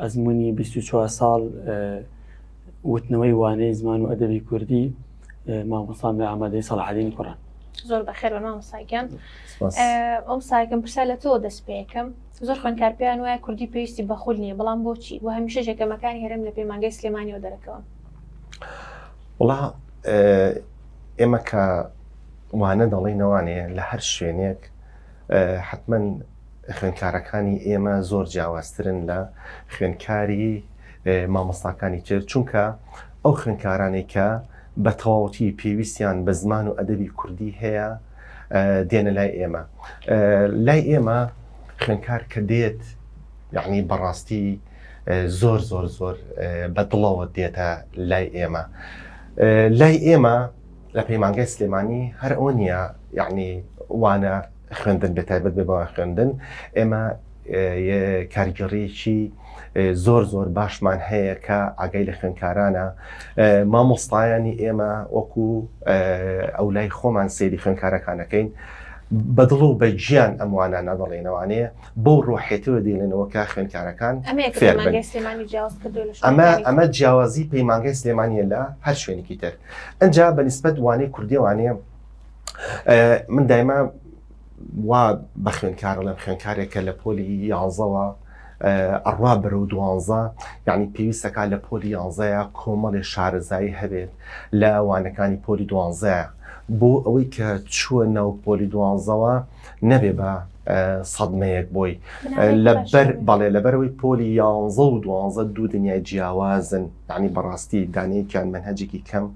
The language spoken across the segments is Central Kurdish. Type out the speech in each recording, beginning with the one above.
ئەزموونی بیست و چوار ساڵ وتنەوەی وانەی زمان و ئەدەبی کوردی مامۆستام لە ئامادەی سەڵحەدین کوڕان زۆر بەخێر بە مامۆستاگیان ئەم ساکەم پرسا لە تۆ دەست پێەکەم زۆر خوێنکار پێیان وایە کوردی پێویستی بەخول نییە بەڵام بۆچی و هەمیشە جەکەمەکانی هەرم لە پەیمانگەی سلێمانیەوە دەرەکەون وڵا ئێمە کە وانە دەڵێنەوانەیە لە هەر شوێنێک حتمما خوێندکارەکانی ئێمە زۆر جیاوازترن لە خوێندکاری مامۆستاکانی تر چونکە ئەو خوێندکارانەی کە بە تەواوەتی پێویستیان بە زمان و ئەدەبی کوردی هەیە دێنە لای ئێمە لای ئێمە خوێندکار کە دێت یعنی بەڕاستی زۆر زۆر زۆر بە دڵەوە دێتە لای ئێمە لای ئێمە لە پەیمانگای سلێمانی هەر ئەوە نییە یعنی وانە خوێندن بێتایبەت بێ بەوە خوێندن ئێمە کارگەڕێکی زۆر زۆر باشمان هەیە کە ئاگای لە خوێندکارانە مامۆستایانی ئێمە وەکو ئەو لای خۆمان سێری خوێندکارەکانەکەین بە دڵ و بە گیان ئەموانە نەدەڵێنەوانەیە بەو ڕۆحێتەوە دێنەوە کە خوێندکارەکان ئەمە ئەمە جیاوازی پەیمانگەی سلێمانە لە هەر شوێنێکی تر ئەجا بە نسبەت وانەی کوردێوانەیە من دایما وا بە خوێنکارە لەم خوێنکارێکە لە پۆلی یانزەوە ئەڕوا بەرەو دوانزە یعنی پێویستەکە لە پۆلی یانزەیە کۆمەڵێ شارەزایی هەبێت لە وانەکانی پۆلی دوانزەیە بۆ ئەوەی کە چووە ناو پۆلی دوانزەوە نەبێ بە سەدمەیەک بۆی لەبەر بەڵێ لەبەرەوەی پۆلی یانزە و دوانزە دوو دنیای جیاوازن یعنی بەڕاستی دانەیەکیان منهجێکی کەم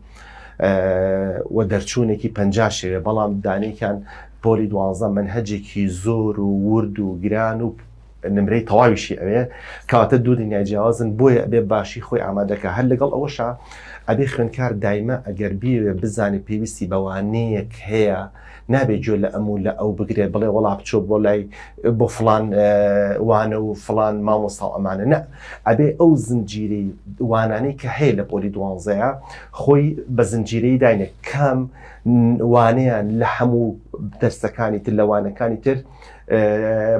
و دەرچوونێکی پە شێوێ بەڵام دانێکیان پۆلی دوانزە من هەجێکی زۆر و ورد و گران و نمرەی تەواویشی ئەوێ کەواتە دوو دنیای جیاوازن بۆیە ئەبێ باشی خۆی ئامادەکە هەر لەگەڵ ئەوەشە ئەبێ خوێنکار دایمە ئەگەر بیوێ بزانێ پێویستی بەوانەیەک هەیە نابێ گوێ لە ئەم و لە ئەو بگرێ بڵێ وەڵا بچۆ بۆ لای بۆ فلان وانە و فلان مامۆستا و ئەمانە نە ئەبێ ئەو زنجیری وانانەی کە هەیە لە پۆلی دوانزەیە خۆی بە زنجیرەی داینێ کام وانەیان لە هەموو دەرسەکانی تر لەوانەکانی تر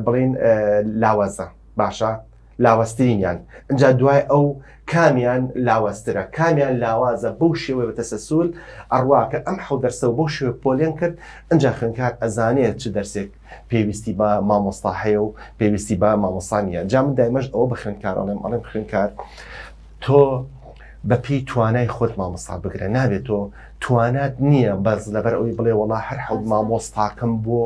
بڵین لاوازە باشە لاوازترینیان ئەجا دوای ئەو کامیان لاوازترە کامیان لاوازە بەو شێوەی بە تەسەسول ئەڕواکە ئەم حەو دەرسەوە بەو شێوە پۆلێن کرد ئەجا خوێنکار ئەزانێت چ دەرسێک پێویستی بە مامۆستا هەیە و پێویستی بە مامۆسانە جا من دایمەش ئەوە بە خوێنکارەڵێم ئەڵێم خوێنکار تۆ بە پێی توانای خۆت مامۆستا بگرە نابێت تۆ توانات نییە بەس لەبەر ئەوی بڵێ وڵا هەر حەوت مامۆستاکەم بۆ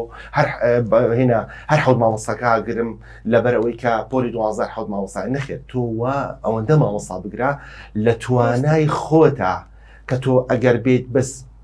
هێنا هەر حەوت مامۆستاکە گرم لەبەر ئەوەی کە پۆلی دوازار حەوت مامۆستا نەخێت تۆ وا ئەوەندە مامۆستا بگرە لە توانای خۆتا کە تۆ ئەگەر بێت بەس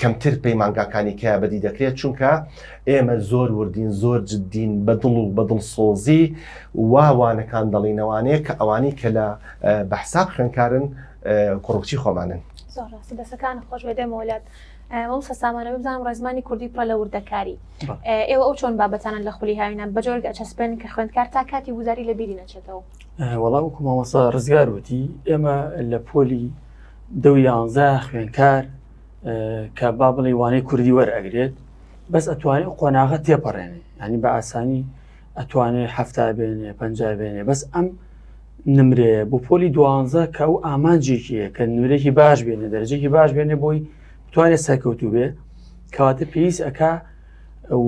کەمتر پەیمانگاکانی کە بەدی دەکرێت چونکە ئێمە زۆر وردین زۆر جددین بە دڵ و بە دڵ سۆزی واوانەکان دەڵینەوانەیە کە ئەوانی کە لە بەحساب خوێنکارن کوڕکچی خۆمانن دەسەکان خۆش بەدەمەوەلات ئەوم سەسامانە بزانام ڕێزمانی کوردی پڕە لە وردەکاری ئێوە ئەو چۆن بابەتانە لە خولی هاوینە بەجۆرگ ئەچەسپێن کە خوێندکار تا کاتی وزاری لە بیری نەچێتەوە وەڵام کومەوەسا ڕزگار وتی ئێمە لە پۆلی دە و یانزە خوێنکار کە با بڵێ وانەی کوردی وەرئەگرێت بەس ئەتوانێت قۆناغە تێپەڕێنێ ئەنی بە ئاسانی ئەتوانێت هەفتا بێنێ پنج بێنێ بەس ئەم نمرێ بۆ پۆلی دوانزە کە ئەو ئامانجێکیە کە نورێکی باش بێنێ دەرجێکی باش بێنێ بۆی بتوانێت سەرکەوتو بێ کەواتە پێویست ئەک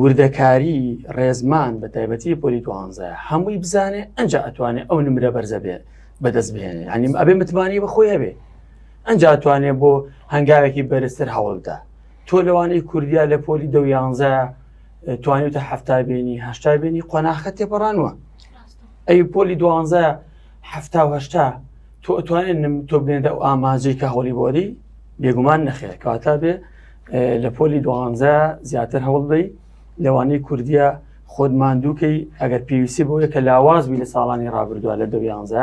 وردەکاری ڕێزمان بە تایبەتی پۆلی دوانزە هەمووی بزانێ ئەنج ئەتوانێت ئەو نمرە بەرزە بێت بەدەست بێنێ ئەنیم ئەبێ متمانی بە خۆی هەبێ ئەجا توانێت بۆ هەنگاوێکی بەرزتر هەوڵدا تۆ لەوانەی کوردیا لە پۆلی دە یانزە توانیتە هەفتا بینی هەشتا بینی قۆناخە تێپەڕانوە ئەی پۆلی دوانزە هەفتا هەشتا تۆ ئەتوانێت تۆ بێنێتە ئەو ئاماجەی کە هەوڵی بۆری بێگومان نەخێر کەواتە بێ لە پۆلی دوانزە زیاتر هەوڵ بی لەوانەی کوردیا خۆت ماندووکەی ئەگەر پێویستی بۆیە کە لاواز بی لە ساڵانی ڕابردووە لە دەویانزە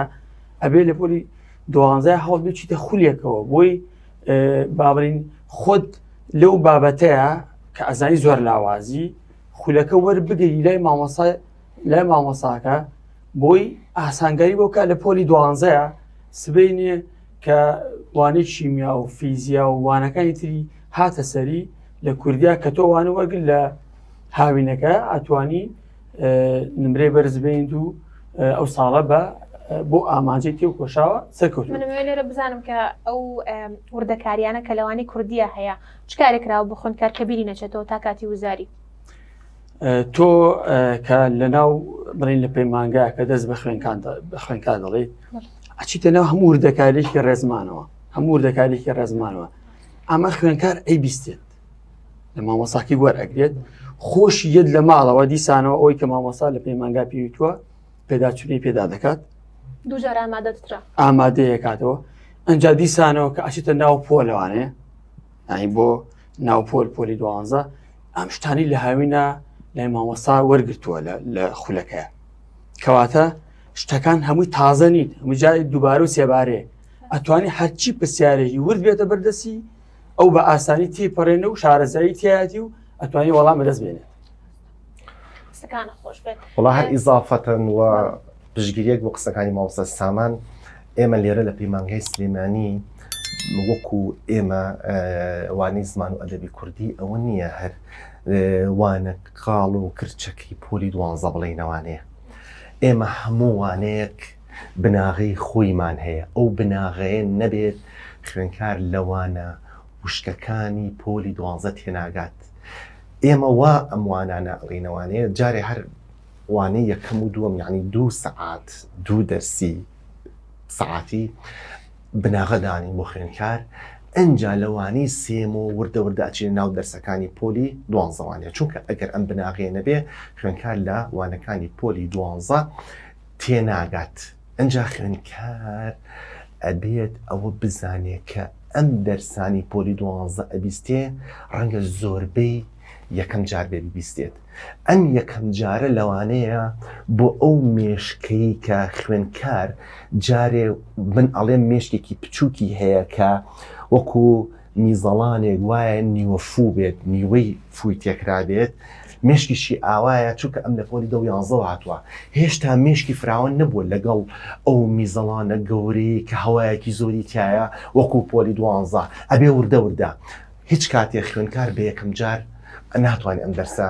ئەبێ لە پۆلی دوانزە هەڵ بچیتە خولێکەوە بۆی بابرین خۆت لەو بابەتەیە کە ئەزای زۆر لاوازی خولەکە وەر بگەی لای مامۆسا لای مامۆساکە بۆی ئاسانگاری بۆکە لە پۆلی دوانزەیە سبینێ کە وانەی شیمیا و فیزیا و وانەکانی تری هاتە سەری لە کوردیا کە تۆ وانە وەرگر لە هاوینەکە ئەتوانی نمرەی بەرزبین و ئەو ساڵە بە بۆ ئامانجی تێ و کۆشاوە سەرکەوت لێرە بزانم کە ئەو وردەکاریانە کە لەوانی کوردیە هەیە چکارێکراوە بخۆن کار کەبیری نەچێتەوە تا کاتی وزاری تۆ کە لەناو بڵین لە پەیمانگا کە دەست بە خوێنکان بە خوێنکان دەڵێیت ئەچیتە ناو هەموو وردەکارێکی ڕێزمانەوە هەموو وردەکارێکی ڕێزمانەوە ئەمە خوێنکار ئەی بیستێت لە مامۆساکی وەر ئەگرێت خۆشی یەت لە ماڵەوە دیسانەوە ئەوی کە مامۆسا لە پەیمانگا پێویتوە پێداچوونی پێدا دەکات دوجار ئامادەترا ئامادەیە کاتەوە ئەجا دیسانەوە کە ئەچێتە ناو پۆلەوانەیە ئەی بۆ ناوپۆل پۆلی دوانزە ئەم شتانی لە هاوینە لای مامۆستا وەرگتووە لە خولەکە کەواتە شتەکان هەمووی تازە نیت مجای دووبارە و سێبارێ ئەتوانی هەرچی پرسیارێکی ورد بێتە بەردەسی ئەو بە ئاسانی تێپەڕێنە و شارەزایی تایەتی و ئەتوانی وەڵام بەدەست بێنێت وڵا هەر ئیزافەتەن و پشگیریەک بۆ قسەکانی ماوسە سامان ئێمە لێرە لە پەیمانگای سلێمانی وەکو ئێمە وانەی زمان و ئەدەبی کوردی ئەوە نییە هەر وانە کاڵ و کرچەکەی پۆلی دوانزە بڵێنەوانەیە ئێمە هەموو وانەیەک بناغی خۆیمان هەیە ئەو بناغەیە نەبێت خوێنکار لەوانە وشکەکانی پۆلی دوانزە تێناگات ئێمە وا ئەم وانانە ئەڵینەوانەیە جارێ هەر وانەی یەکەم و دووەم یعنی دوو سەعات دوو دەرسی سەعاتی بناغەدانین بۆ خوێنکار ئەجا لەوانی سێم و وردە وردە ئەچێن ناو دەرسەکانی پۆلی دوانزەوانە چونکە ئەگەر ئەم بناغێنە بێ خوێنکار لە وانەکانی پۆلی دوانزە تێناگات ئنجا خوێندکار ئەبێت ئەوە بزانێ کە ئەم دەرسانی پۆلی دوانزە ئەبیستێ ڕەنگە زۆربەی یەکەم جار بێ ببیستێت ئەم یەکەم جارە لەوانەیە بۆ ئەو مێشکەی کە خوێندکار جارێ من ئەڵێم مێشکێکی بچووکی هەیە کە وەکو میزەڵانێک وایە نیوە فوو بێت، نیوەی فووی تێکرابێت، مێشکیشی ئاوایە، چونکە ئەم لە پۆلی دە و یانزەوە هاتووە، هێشتا مێشکی فراوان نەبووە لەگەڵ ئەو میزەڵانە گەورەیەی کە هەوایەکی زۆری تیایە وەکوو پۆلی دوانزە، ئەبێ وردە وردە، هیچ کاتێ خوێندکار بە یەکەمجار ناتوانێ ئەم دەرسە.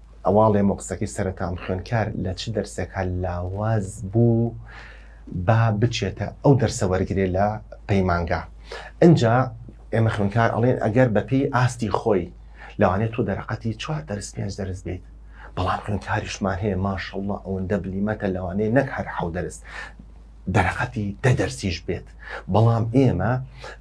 ئەواڵێم و قسەکەی سەرەتام خوێندکار لە چ دەرسێکا لاواز بوو با بچێتە ئەو دەرسە وەرگێ لە پەیمانگا ئەجا ئێمە خوێندکار ئەڵێن ئەگەر بەپێی ئاستی خۆی لەوانێت تۆ دەرەقەتی چوار دەرس پێنج دەرس بیت بەڵام خوێندکاریشمان هەیە ماشەڵڵە ئەوەندە بلیمەتە لەوانەیە نەک هەر حەو دەرس دەرەقەتی دە دەرسیش بێت بەڵام ئێمە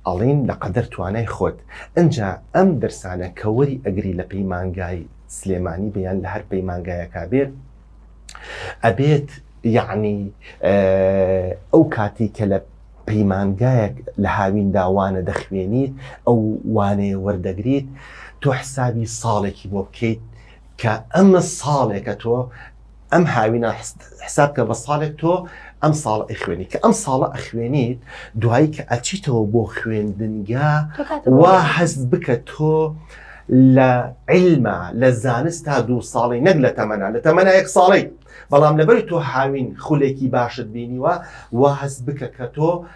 ئەڵین لە قەدەر توانای خۆت ئەجا ئەم دەرسانە کەوەری ئەگری لە پەیمانگای سلێمانی بێ یان لە هەر پەیمانگایەکە بێت ئەبێت یعنی ئەو کاتی کە لە پەیمانگایەک لە هاوین داوانە دەخوێنیت ئەو وانەیە وەردەگریت تۆ حسابی ساڵێکی بۆ بکەیت کە ئەمە ساڵێکە تۆ ئەم هاوینا حساب کە بە ساڵێک تۆ ئەم ساڵ ئەخوێنی کە ئەم ساڵە ئەخوێنیت دوایی کە ئەچیتەوە بۆ خوێندنگە وا هەست بکە تۆ لە علمە لە زانست تا دوو ساڵی نەک لە تەمەنا لە تەمەنا یەک ساڵی بەڵام لەبەر تۆ هاوین خولێکی باشت بینیوە وا هەست بکە کە تۆ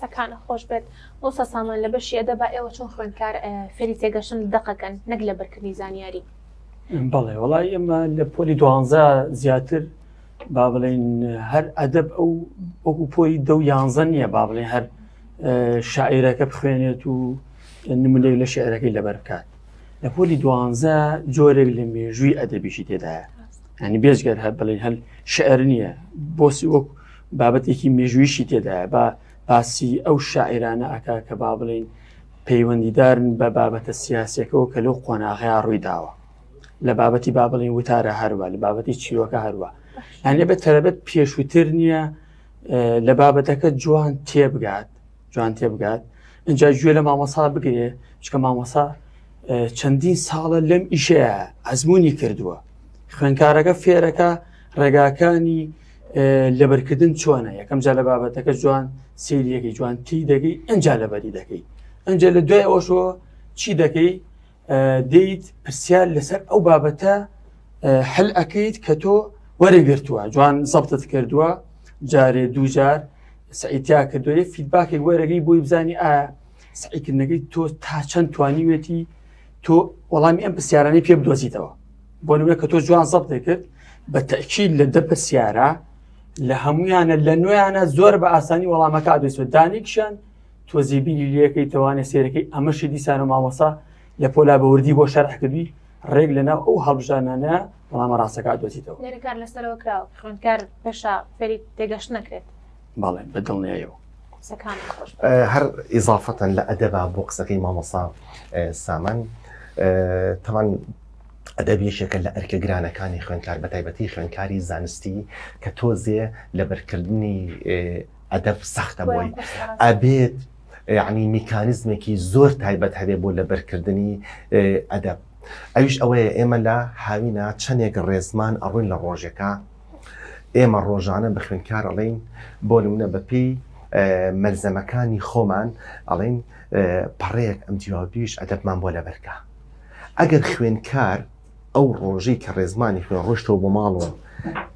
سەکانت خۆش بێت مۆستا سامان لە بەشی ئەدەبا ئێوە چۆن خوێندکار فێری تێگەشتن و دەقەکەن نەک لە بەرکردنی زانیاری. بەڵێ وەڵای ئێمە لە پۆلی دوانزە زیاتر با بڵێن هەر ئەدەب ئەو وەکو پۆی دە و یانزە نییە با بڵێ هەر شاعیرەکە بخوێنێت و نمونێک لە شعرەکەی لەبەر بکات لە پۆلی دوانزە جۆرێک لە مێژووی ئەدەبیشی تێدایە هەنی بێزگەر هەر بڵێن هەل شعر نییە بۆسی وەک بابەتێکی مێژوویشی تێدایە با باسی ئەو شاعیرانە ئەکا کە با بڵین پەیوەندیدارن بە بابەتە سیاسەکەەوە کە لەو قۆناغەیە ڕوویداوە لە بابەتی با بڵین وتارە هەروە لە بابەتی چیرۆکە هەروە هەنێ بە تەرەبەت پێشووتر نییە لە بابەتەکە جوان تێبگات جوان تێبگات اینجا گوێ لە مامەسا بگرێ چکە مامەسا چەندین ساڵە لەم ئیشەیە ئەزمموی کردووە خوێنکارەکە فێرەکە ڕێگاکانی لەبەرکردن چۆنە یەکەم جا لە بابەتەکە جوان سریەکەی جوان تی دەگەی ئەجا لەبەری دەکەی ئەجا لە دوای ئەوشۆ چی دەکەی دەیت پرسیار لەسەر ئەو بابەتە هەل ئەەکەیت کە تۆ وەرەگرتووە جوان زەبتت کردووە جارێ دووجار سعیتیا کردوێ فیدباکێک وەرەگەی بۆی بزانانی ئایا سعیکردنەکەی تۆ تا چەند توانیوێتی تۆ وەڵامی ئەم پرسیارانی پێ بدۆزیتەوە بۆ نمونە کە تۆ جوان زەب دەکرد بە تەکیل لە دە پرسیارە لە هەمویانە لە نوێیانە زۆر بە ئاسانی وەڵامەکە دەسوێت دانیکشان تۆزی بینی لەکەی توانێت سێرەکەی ئەمەشی دیسانە مامەسا لە پۆلا بەوردی بۆ شەرحکردی ڕێک لە ناو ئەو هەڵبژانانە وەڵامە ڕاستەکە دۆزیتەوە لەکار لەسەرەوە کراوە خوێندکار پێشا فەری تێگەشت نەکرێت بەڵێ بە دڵنیایەوە قسەکانت خۆش بێت. ئە، هەر ئیزافەتەن لە ئەدەبا بۆ قسەکەی مامۆسا ئە، سامان ئە، تەمان ئەدەب یەکێکە لە ئەرکە گرانەکانی خوێندکار بە تایبەتی خوێندکاری زانستی کە تۆزێ لەبەرکردنی ئێ، ئەدەب سەختە بۆی بۆیان قورسە ڕاستە. ئەبێت یەعنی میکانیزمێکی زۆر تایبەت هەبێ بۆ لەبەرکردنی ئێ، ئەدەب ئەویش ئەوەیە ئێمە لە هاوینا چەنێک ڕێزمان ئەڕووین لە ڕۆژێکا ئێمە ڕۆژانە بە خوێندکار ئەڵێین بۆ نمونە بەپێی مەلزەمەکانی خۆمان ئەڵێین پەڕەیەک ئەم جیاوبیش ئەدەبمان بۆ لەبەرکە ئەگەر خوێندکار ئەو ڕۆژەی کە ڕێزمانی خوێن ڕۆشتەوە بۆ ماڵەوە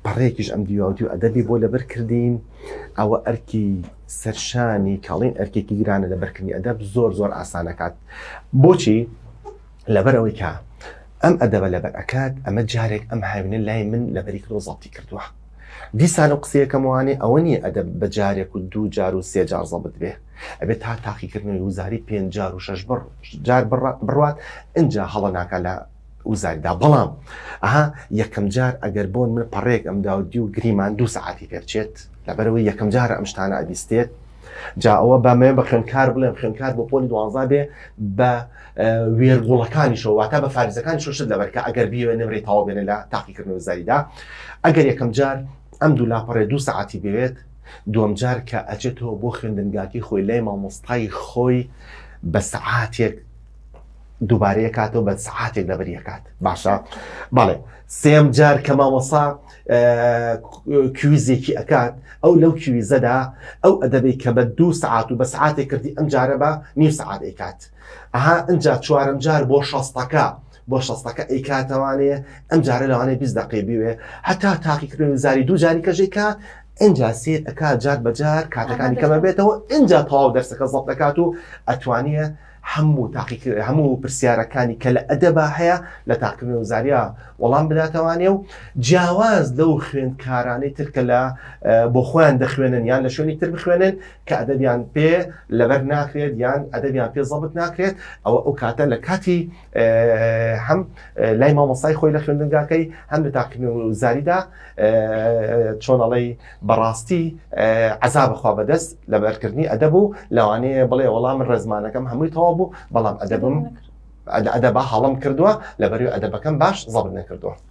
پەڕێکیش ئەم دیواودی و ئەدەبی بۆ لەبەر کردین ئەوە ئەرکی سەرشانی کاڵین ئەرکێکی گرانە لە بەرکردنی ئەدەب زۆر زۆر ئاسانەکات بۆچی لەبەر ئەوەی کە ئەم ئەدەبە لەبەر ئەکات ئەمە جارێک ئەم هاوینە لای من لەبەری کردۆ زەڵتی کردووە دیسان و قسەیەکەم وانێ ئەوە نیە ئەدەب بە جارێک و دوو جار و سێ جار زەبت بێ ئەبێت تا تاقیکردنەوەی وزاری پێ جار و شش بڕ جار بڕات ئەجا هەڵە ناکە لە وزاریدا بەڵام ئەها یەکەم جار ئەگەر بۆن من پەڕێک ئەم داودی و گریمان دوو سعاتی پێبچێت لەبەرەوەی یەکەم جار ئەم شتانە ئەبیستێت جا ئەوە بەمێ بە خوێنکار بڵێم خوێنکار بۆ پۆلی دوانزا بێ بە وێرگوڵەکانیشەوە واتە بە فارزەکان شت لەبەر کە ئەگەر بیوێ نمرەی تاوا بێنە لە تاقیکردنەوە زایدا ئەگەر یەکەم جار ئەم دوو لاپەڕێ دوو سەعاتی بوێت دوم جار کە ئەچێتەوە بۆ خوێندنگاکی خۆی لای مامۆستای خۆی بە سەعاتێک دووبارەیە کاتەوە بە سەعاتێک لەبەر یەکات باشە بەڵێ سێم جار کە مامۆسا کویزێکی ئەکات ئەو لەو کویزەدا ئەو ئەدەبی کە بە دوو سعات و بە سعاتێک کردی ئەم جارە بە نیم سعات ئەیکات ئەها ئەجا چوارم جار بۆ شەستەکە بۆ شەستەکە ئەیکاتەوانێ ئەم جارە لەوانەیە بیست دقی بوێ هەتا تاقیکردن زاری دوو جاری کەژێکە ئەجا سێر ئەک جار بەجار کاتەکانی کەمە بێتەوە ئەجا تەواو دەرسەکە زەڵ دەکات و ئەتوانە هەموو تاقی هەموو پرسیارەکانی کە لە ئەدەبا هەیە لە تاقیکردن و زاریا وەڵام بداتەوانێ و جیاواز لەو خوێندکارانەی ترکە لە بۆ خۆیان دەخوێنن یان لە شوێنی تر بخوێنن کە ئەدەبیان پێ لەبەر ناکرێت یان ئەدەبیان پێ زەبت ناکرێت ئەوە ئەو کاتە لە کاتی هەم لای مامۆسای خۆی لە خوێندنگاکەی هەم لە تاقیم و زاریدا چۆنەڵی بەڕاستی عذابخوا بەدەست لە بەرکردنی ئەدەب و لەوانەیە بڵێ وەڵام من ڕێزمانەکەم هەمووی تەوا بوو بەڵام ئەدەبم ئەدەبا هەڵم کردووە لە بەری ئەدەبەکەم باش زەبت نەکردووە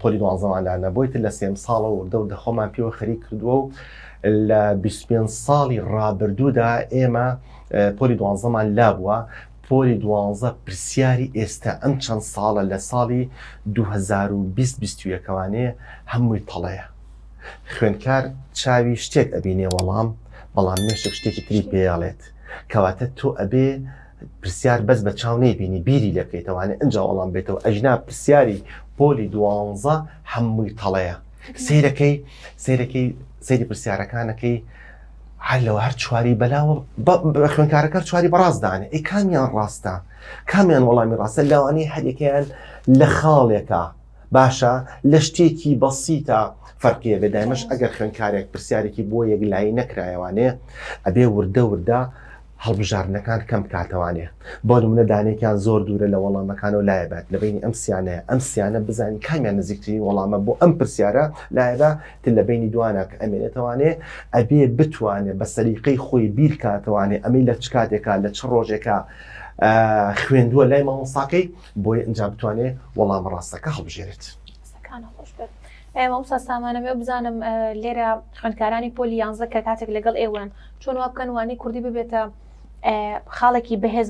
پۆلی دوانزەمان لا نەبووی تر لە سێم ساڵە وردە وردە خۆمان پێوە خەریک کردووە و لە 25 ساڵی ڕابردوودا ئێمە پۆلی دوانزەمان لا بووە پۆلی دوانزە پرسیاری ئێستا ئەم چەند ساڵە لە ساڵی 2020-ەکەوانێ هەمووی تەڵەیە خوێندکار چاوی شتێک ئەبینێ وەڵام بەڵام مێشک شتێکی تری پێڵێت کەواتە تۆ ئەبێ پرسیار بەس بە چاو نەیبینی بیری لێ بکەیتەوانێ ئەنجا وەڵام بێتەوە ئەژنا پرسیاری پۆلی دوانزە هەمووی تەڵەیە سیرەکەی سیرەکەی سەیری پرسیارەکانەکەی هەر لەوە هەر چواری بەلاوە بە خوێنکارەکە چواری بەڕاستدانێ ئەی کامیان ڕاستە کامیان وەڵامی ڕاستە لەوانەیە هەریەکەیان لە خاڵێکە باشە لە شتێکی بەسیتە فەرقیە بێدایمەش ئەگەر خوێنکارێک پرسیارێکی بۆ یەک لای نەکرایەوانێ ئەبێ وردە وردە هەڵبژاردنەکان کەم بکاتەوانێ بۆ نمونە دانێکیان زۆر دوورە لە وەڵامەکانەوە لایەبات لە بینی ئەم سیانەیە ئەم سیانە بزانین کامیان نزیکترین وەڵامە بۆ ئەم پرسیارە لایەدا تر لە بینی دوانە کە ئەمێنێتەوانێ ئەبێ بتوانێت بە سەریقەی خۆی بیرکاتەوانێ ئەمەی لە چ کاتێکا لە چ ڕۆژێکە خوێندووە لای مامۆساکەی بۆی ئەنجا بتوانێت وەڵام ڕاستەکە هەڵبژێرێت. ئەی مامۆستا سامان ئەمەوێ بزانم لێرە خوێندکارانی پۆلی یانزە کە کاتێک لەگەڵ ئێوەن چۆن وا بکەن وانەی کوردی ببێتە خاڵێکی بەهێز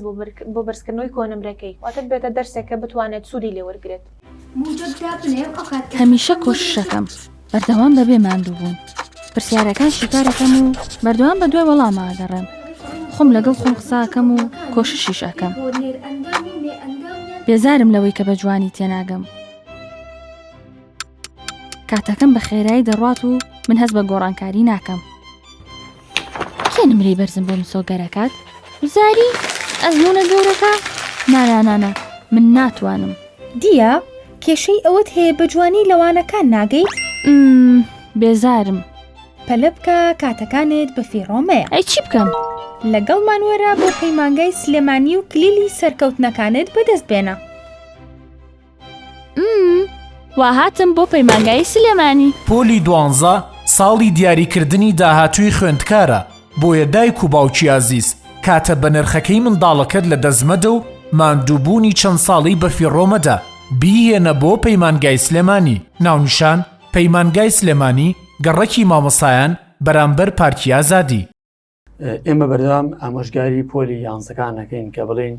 بۆ بەرزکردنەوەی کۆنمرەکەی واتە ببێتە دەرسێک کە بتوانێت سوودی لێ وەرگێت هەمیشە کۆششەکەم بەردەوام بەبێ ماندوو بوون پرسیارەکان شیکارەکەم و بەردەوام بە دوای وەڵاماگەڕێم خۆم لەگەڵ خۆم قساکەم و کۆششیش ئەەکەم بێزارم لەوەی کە بە جوانی تێناگەم کاتەکەم بە خێرایی دەڕات و من هەست بە گۆڕانکاری ناکەم کێ نمرەی بەرزم بۆ مسۆگەرەکات وزاری ئەزمونە گەورەکە نانانانە من ناتوانم دیە کێشەی ئەوەت هەیە بە جوانی لەوانەکان ناگەیت بێزارم پەلە بکە کاتەکانت بە فیڕۆمەیە ئەی چی بکەم لەگەڵ مانوەرە بۆ پەیمانگای سلێمانی و کلیلی سەرکەوتنەکانت بەدەست بێنە واهاتم بۆ پەیمانگای سلێمانی پۆلی دوانزە ساڵی دیاریکردنی داهاتووی خوێندکارە بۆیە دایک و باوکی ئازیز کاتە بە نرخەکەی منداڵەکەت لە دەستمەدە و ماندووبوونی چەند ساڵی بەفیڕۆمەدە بیهێنە بۆ پەیمانگای سلێمانی ناونیشان پەیمانگای سلێمانی گەڕەکی مامەسایان بەرامبەر پارکی ئازادی. ئێمە بەردەوام ئامۆژگاری پۆلی یانزەکان نەکەین کە بڵین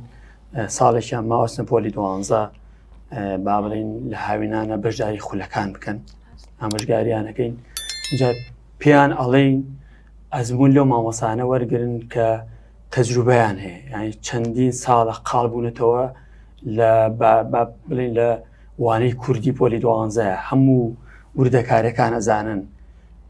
ساڵێکیان ماوەستە پۆلی دوانزە با بڵین لە هاوینانە بەشداری خولەکان بکەن ئامۆژگاریانەکەین جا پێیان ئەڵین ئەزمون لەو مامۆسانە وەرگن کە تەجروبیان هەیە ینی چەندین ساڵە قاڵ بوونەتەوە لە بڵین لە وانەی کوردی پۆلی دوانزە هەموو وردەکارەکان ئەزانن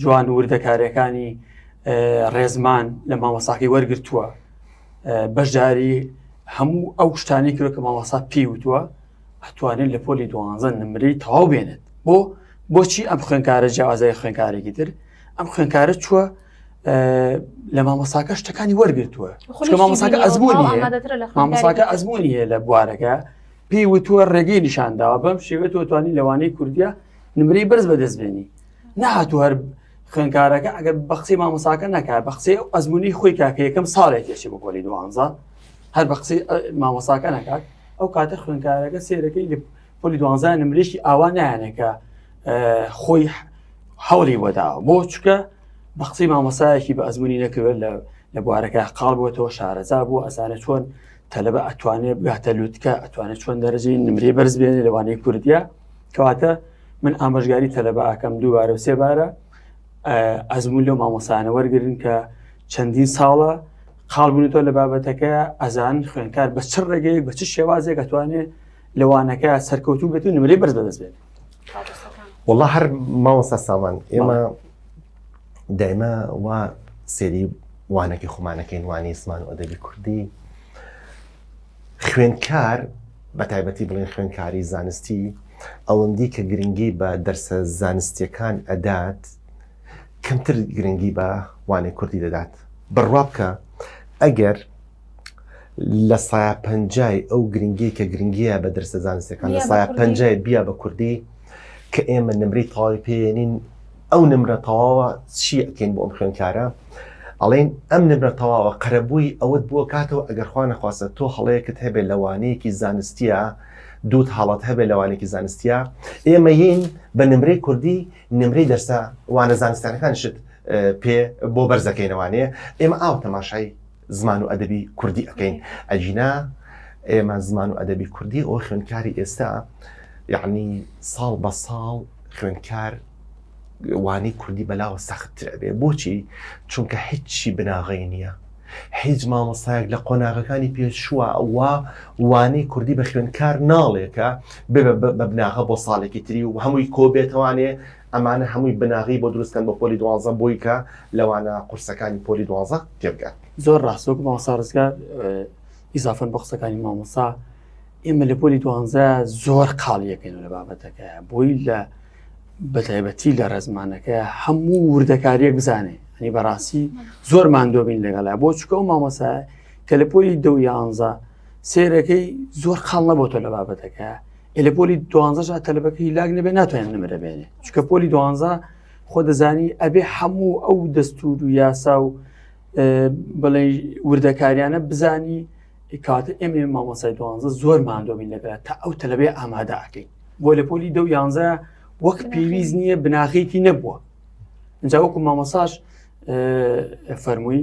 جوان و وردەکارەکانی ڕێزمان لە مامەساقی وەرگتووە بەشداری هەموو ئەو شتانی کرد کە مامەسا پێی وتووە ئەتوانێت لە پۆلی دوانزە نمری تەواو بێنێت بۆ بۆچی ئەم خوێنکارە جیازای خوێنکارێکی تر ئەم خوێنکارە چووە لە مامەساکە شتەکانی وەرگتووە مامەساکە ئەزمموی مامەساکە ئەزمموی لە بوارەکە پێی وتووە ڕێگەی نیشانداوە بەم شێوێت توانی لەوانەی کوردیا نمرەی بەرز بەدەست بێنی نهاتوو هەر خوێنکارەکە ئەگەر بە قسەی مامۆساکە ناکە بە قسەی ئەو ئەزمموی خۆی کاکە یەکەم ساڵێک تێچی بۆ پۆلی دوانزە هەر بە قسەی مامۆساکە ناکات ئەو کاتە خوێنکارەکە سێرەکەی لە پۆلی دوانزای نمرێکی ئاوا نایانەکە خۆی هەوڵی وەداوە بۆ چکە بە قسەی مامۆسایەکی بە ئەزمموی نەکرێت لە لە بوارەکە قاڵ بووەوە شارەزا بوو ئەسانە چۆن تەلبە ئەتوانێت بگاتە لوتکە ئەتوانێت چۆن دەرەجی نمری بەرز بێنێ لەوانەیە کوردیا کەواتە من ئامۆژگاری تەلەبە ئاکەم دووبارە و سێبارە ئەزمون لەو مامۆسانە وەرگن کە چەندین ساڵە خاڵ بوونەوە لە بابەتەکە ئەزانی خوێنکار بە چ ڕێگەیەک بە چ شێوازێک ئەتوانێت لەوانەکە سەرکەوتوو بێت و نمرەی بەرز بەدەست بێت وڵا هەر ماوەستا سامان ئێمە دایمە وا سێری وانەکی خۆمانەکەین وانی زمان و ئەدەبی کوردی خوێندکار بەتایبەتی بڵێن خوێندکاری زانستی ئەوەندی کە گرنگی بە دەرسە زانستیەکان ئەدات کەمتر گرنگی بە وانەی کوردی دەدات بڕوا بکە ئەگەر لە سایە پەنجای ئەو گرنگی کە گرنگیە بە دەرسە زانستەکان لە سایە پەنجای بیا بە کوردی کە ئێمە نمری تەواوی پێێنین ئەو نمرە تەواوە چی ئەکەین بۆ ئەم خوێنکارە ئەڵێن ئەم نمرە تەواوە قەرەبووی ئەوەت بۆ کاتەوە ئەگەر خوانە خواستە تۆ هەڵەیەکت هەبێت لەوانەیەکی زانستیە دووت هاڵات هەبێت لەوانێکی زانستیە ئێمە ین بە نمرەی کوردی نمرەی دەرسە وانە زانستانەکان شت پێ بۆ بەرزەکەینەوانەیە ئێمە ئاو تەماشای زمان و ئەدەبی کوردی ئەکەین ئەگینا ئێمە زمان و ئەدەبی کوردی ئەو خوێندکاری ئێستا یعنی ساڵ بە ساڵ خوێندکار وانی کوردی بەلاوە سەختتر ئەبێ بۆچی چونکە هیچی بناغی نییە هیچ مامۆستایەک لە قۆناغەکانی پێشووە ئەوە وانەی کوردی بە خوێندکار ناڵێکە بە بناغە بۆ ساڵێکی تری و هەمووی کۆبێتوانێ ئەمانە هەمووی بناغەی بۆ دروست کەن بۆ پۆلی دوانزە بۆی کە لەوانە قورسەکانی پۆلی دوانزە تێبگات. زۆر ڕاست وەک مامۆستا ڕزگار ئیزافەن بە قسەکانی مامۆستا ئێمە لە پۆلی دوانزە زۆر قاڵیەکەین لە بابەتەکە بۆی لە بەتایبەتی لە ڕێزمانەکە هەموو وردەکاریەک بزانێ هەنی بەڕاستی زۆر مادۆبین لەگەڵا بۆ چکە و مامۆسا کە لە پۆلی دە یانزە سێرەکەی زۆر خاڵ نەبووتە لە بابەتەکە ئێلە پۆلی دوانزە جا تەلبەکە هیلاک نەبێ ناتوانێت نمرە بێنێ چکە پۆلی دوانزە خۆ دەزانی ئەبێ هەموو ئەو دەستور و یاسا و بڵێ وردەکاریانە بزانی کاتە ئێمە مامەسای دوانزە زۆر مادۆمین لەگەرە تا ئەو تەلبێ ئامادەکەین بۆ لە پۆلی دە یانزە وەک پێویست نییە بناغێکی نەبووە جاوەکو مامەساش فەرمووی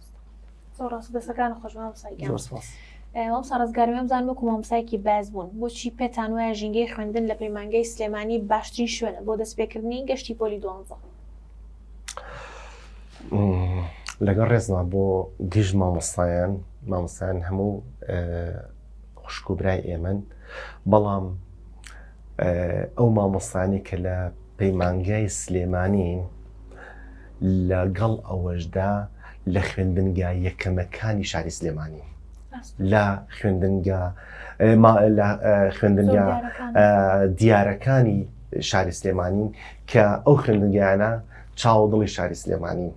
زۆر ڕاست دەسەکان خۆش مامۆستا گیان زۆر سپاس مامۆستا ڕزگار وێم زان وەکو مامۆستایەکی باز بوون بۆچی پێتان وایە ژینگەی خوێندن لە پەیمانگەی سلێمانی باشترین شوێنە بۆ دەستپێکردنی گەشتی پۆلی دوانزە لەگەڵ ڕێزما بۆ گژ مامۆستایان مامۆستایان هەموو خوشک و برای ئێمن بەڵام ئەو مامۆستانی کە لە پەیمانگای سلێمانین لەگەڵ ئەوەشدا لە خوێندنگە یەکەمەکانی شاری سلێمانی لە خوێندنگە خوێندنگە دیارەکانی شاری سلێمانین کە ئەو خوێندنگەیانە چاوە دڵی شاری سلێمانین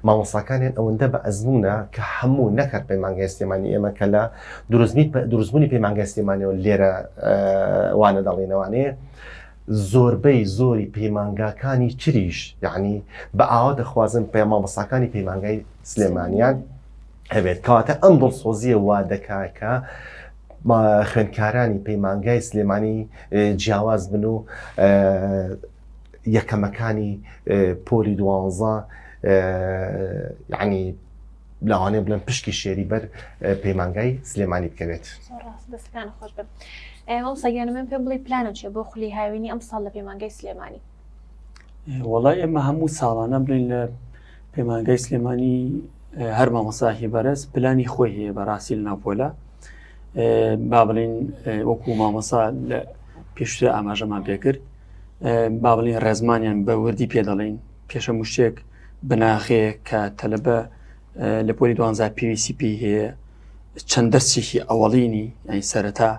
مامۆساکانیان ئەوەندە بە ئەزمونە کە هەموو نەکات پەیمانگای سلێمانی ئێمە کە لە دروستنی دروستبوونی پەیمانگای سلێمانەوە لێرە وانە دەڵێنەوانەیە زۆربەی زۆری پەیمانگاکانی تریش یعنی بە ئاوا دەخوازن پێ مامەساکانی پەیمانگای سلێمانیان هەبێت کەواتە ئەم دڵسۆزیە وا دەکاکە خوێندکارانی پەیمانگای سلێمانی جیاواز بن و یەکەمەکانی پۆلی دوانزە یعنی لاوانێ بڵێن پشکی شێری بەر پەیمانگای سلێمانی بکەوێت سەگیان من پێ بڵی پلانم چێ بۆ خولی هاوینی ئەم ساڵ لە پەیمانگای سلێمانی وڵای ئێمە هەموو ساڵانە بڵین لە پەیمانگای سلێمانی هەر مامەساحی بەرز پلانی خۆی هەیە بەڕاستی لە ناپۆلا با بڵین وەکو مامەسا لە پێشتر ئاماژەمان پێکرد با بڵین ڕێزمانیان بە وردی پێ دەڵین پێشە مشتێک بناغەیە کە تەلەبە لە پۆلی دوانزار پێویستی پێی هەیە چەند دەستێکی ئەوەڵینی ئەین سەرەتا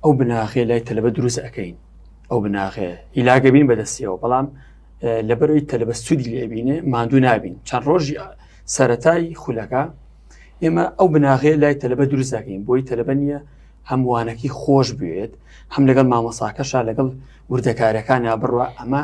ئەو بناغێ لای تەلەبە دروست ئەەکەین ئەو بناغێ هیلاگەبین بەدەستیەوە بەڵام لەبەرەوەی تەلەبە سوودی لێبینێ مادوو نابین چەند ڕۆژی سەتای خولەکە ئێمە ئەو بناغێ لای تەلەبە دروست دەکەین بۆی تەلەبە نیە هەمووانەکی خۆش بوێت هەم لەگەڵ مامەساکەشا لەگەڵ وردەکارەکانە بڕە ئەمە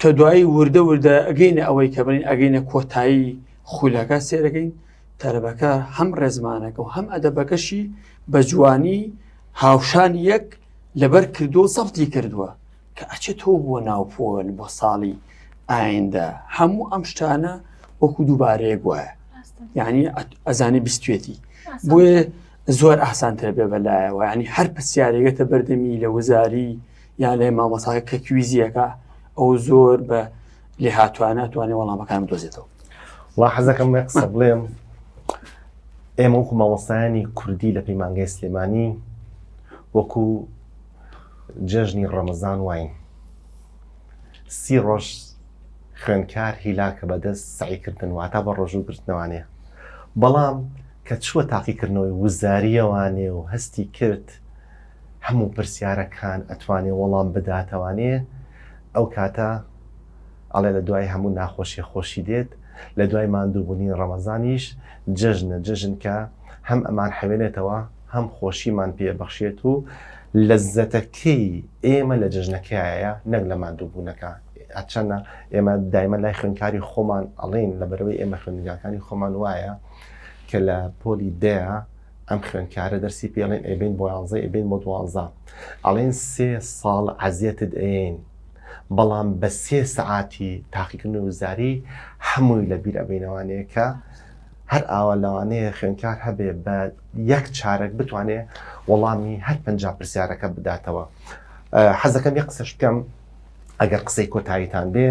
کە دوایی وردە وردە ئەگەینە ئەوەی کە بڵین ئەگەینە کۆتایی خولەکە سێرەکەین تەربەکە هەم ڕێزمانەکە و هەم ئەدەبەکەشی بە جوانی هاوشان یەک لەبەر کردووە سەفتی کردووە کە ئەچێتەوە بۆ ناوپۆل بۆ ساڵی ئایندە هەموو ئەم شتانە وەکو دووبارەیە گوایە یعنی ئەزانی بیستێتی بۆیە زۆر ئاسانتر بێ بەلایەوە ینی هەر پرسیارێگەتە بەردەمی لە وزاری یان لای مامۆساکە کە کویزیەکە ئەو زۆر بە لێ هاتوانە توانێ وەڵامەکان دۆزێتەوە وا حەزەکەم قسە بڵێم ئێمە وەکو مامۆستایانی کوردی لە پەیمانگەی سلێمانی وەکو جەژنی ڕەمەزان واین سی ڕۆژ خوێنکار هیلاکە بەدەست سعیکردن واتا بە ڕۆژوو گرتنەوانێ بەڵام کە چووە تاقیکردنەوەی وزاریەوانێ و هەستی کرد هەموو پرسیارەکان ئەتوانێ وەڵام بداتەوانێ ئەو کاتە ئەڵێ لە دوای هەموو ناخۆشیە خۆشی دێت لە دوای ماندووبونی ڕەمەزانیش جەژنە جەژن کە هەم ئەمان حەوێنێتەوە هەم خۆشیمان پێ بەخشێت و لەزەتەکەی ئێمە لە جەژنەکەیە نەک لە ماندووبوونەکە ئەچەنە ئێمە دایمە لای خوێنکاری خۆمان ئەڵین لە بەرەوەی ئێمە خوێندگاکانی خۆمان وایە کە لە پۆلی دەیە ئەم خوێندکارە دەرسی پێ ئەڵێن ئەبین بۆ یانزە ئەبین بۆ دوانزە ئەڵێن سێ ساڵ عەزیەتت ئەین بەڵام بە سێ سەعاتی تاقیکردن وزاری هەمووی لە بیر ئەبینەوانەیە کە هەر ئاوا لەوانەیە خوێنکار هەبێ بە یەک چارەک بتوانێ وەڵامی هەر پنج پرسیارەکە بداتەوە حەزەکەم یە قسەش بکەم ئەگەر قسەی کۆتاییتان بێ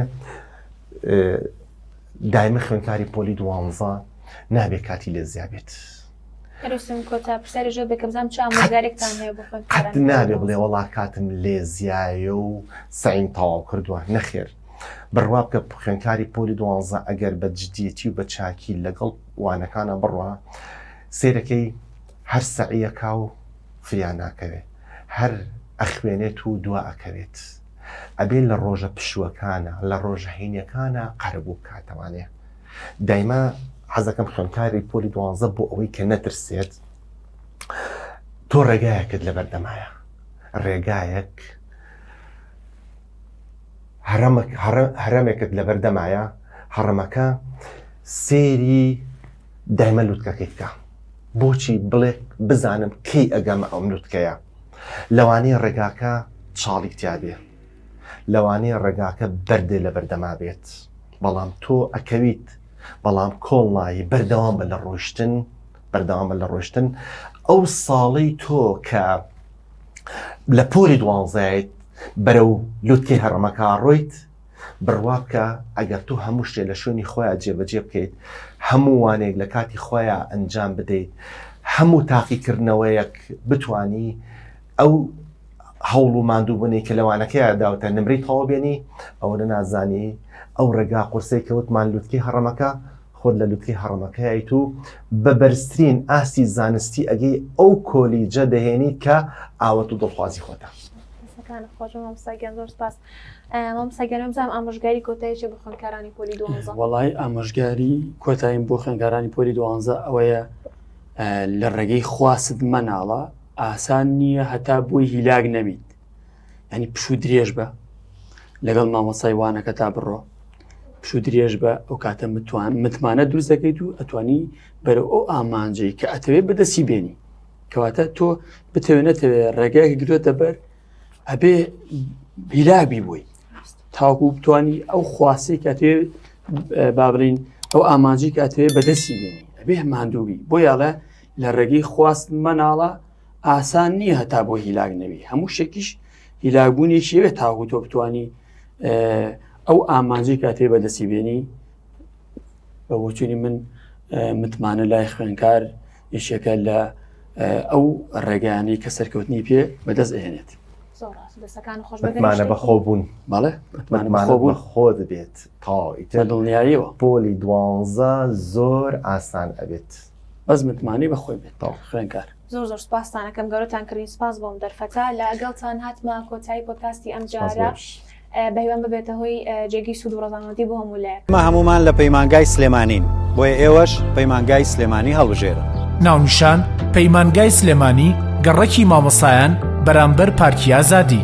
دایمە خوێنکاری پۆلی دوانزە نابێ کاتی لێ زیابێت نابێ بڵێ وڵا کاتم لێ زیایە و سعیم تەواو کردووە نەخێر بڕوا بکە خوێنکاری پۆلی دوانزە ئەگەر بە جددیەتی و بە چاکی لەگەڵ وانەکانە بڕە سێرەکەی هەر سەعیەکە و فریانناکەوێت هەر ئەخوێنێت و دوا ئەکەوێت. ئەبێ لە ڕۆژە پشووەکانە لە ڕۆژە هینەکانە قەرەبوو بکاتەوانێ دایما حەزەکەم خوێنکاری پۆلی دوانزە بۆ ئەوەی کە نەترسێت تۆ ڕێگایەکت لە بەردەمایە ڕێگایەک هەرەمێکت لە بەردەمایە هەڕەمەکە سێری دایمە لوتکەکەی بکە بۆچی بڵێ بزانم کەی ئەگەمە ئەم لوتکەیە لەوانەیە ڕێگاکە چاڵی تیابێ لەوانەیە ڕێگاکە بەردێ لە بەردەما بێت بەڵام تۆ ئەکەویت بەڵام کۆڵ نایی بەردەوام بە لە ڕۆشتن بەردەوامە لە ڕۆشتن ئەو ساڵی تۆ کە لە پۆری دوانزایت بەرە و لوتکەی هەڕەمەکە ڕۆیت بڕوا بکە ئەگەر تۆ هەموو شتێ لە شوێنی خۆیا جێبەجێ بکەیت، هەموو وانەیەک لە کاتی خۆیا ئەنجام بدەیت، هەموو تاقیکردنەوەیەک بتوانی ئەو هەوڵ و ماندووبونەی کە لە وانەکەیا داوتە نمرەی تەواو بێنی، ئەوەنە نازانی ئەو ڕێگا قورسەی کە وتمان لوتکەی هەڕەمەکە، خۆت لە لوتکەی هەڕەمەکەیایت و بە بەرزترین ئاستی زانستی ئەگەی ئەو کۆلیجە دەهێنیت کە ئاوەت و دڵخوازی خۆتە. دەستەکانت خۆش بێ مامۆستا گیان زۆر سوپاس. مامۆستا گیان بزانم ئامۆژگاری کۆتایی چیە بۆ خوێندکارانی پۆلی دوانزە؟ وەڵای ئامۆژگاری کۆتاییم بۆ خوێندکارانی پۆلی دوانزە ئەوەیە لە ڕێگەی خواست مەناڵە ئاسان نییە هەتا بۆی هیلاک نەبیت ینی پشوو درێژ بە لەگەڵ مامۆسای وانەکە تا بڕۆ پشوو درێژ بە ئەو کاتە متوان متمانە دروست دەکەیت و ئەتوانی بەرە ئەو ئامانجەی کە ئەتەوێت بەدەسی بێنی کەواتە تۆ بتەوێت نەتەوێت ڕێگایەکی گرێتە بەر ئەبێ هیلاگبی بووی تاوکو بتانی ئەو خواستەی کە تێ بابلین ئەو ئامانجی کە تێ بەدەستی بینی ئەبێ مادووبی بۆ یاڵە لە ڕێگەی خواست مەناڵە ئاسان نییە هەتا بۆ هیلاگ نەوی هەموو شتێکیش هیلاگبوونی شێوێ تاوکو تۆ بتانی ئەو ئامانجی کە تێ بەدەستی بێنی بە بۆچووی من متمانە لای خوێنکار یەکێکە لە ئەو ڕێگانی کە سەرکەوتنی پێ بەدەست ئەێنێت مانە بەخۆ بوون بەڵێ بوون خۆ دەبێت تاوەیتە دڵنیاییەوە پۆلی دوانزە زۆر ئاسان ئەبێت بەس متمانی بەخۆی بێت تا خوێنکار زۆر زۆر سپاستانەکەم گەورەتان کردین سپاس بۆم دەرفەتا لە ئەگەڵتان هاتمە کۆتایی پۆتکاستی ئەم جارە بەهیوام ببێتە هۆی جێگەی سوود و ڕەزامەندی بۆ هەموو لایەک. ئێمە هەموومان لە پەیمانگای سلێمانین، بۆیە ئێوەش پەیمانگای سلێمانی هەڵبژێرن. ناونیشان، پەیمانگای سلێمانی گەڕەکی مامۆستایان بەرامبەر پارکی ئازادی.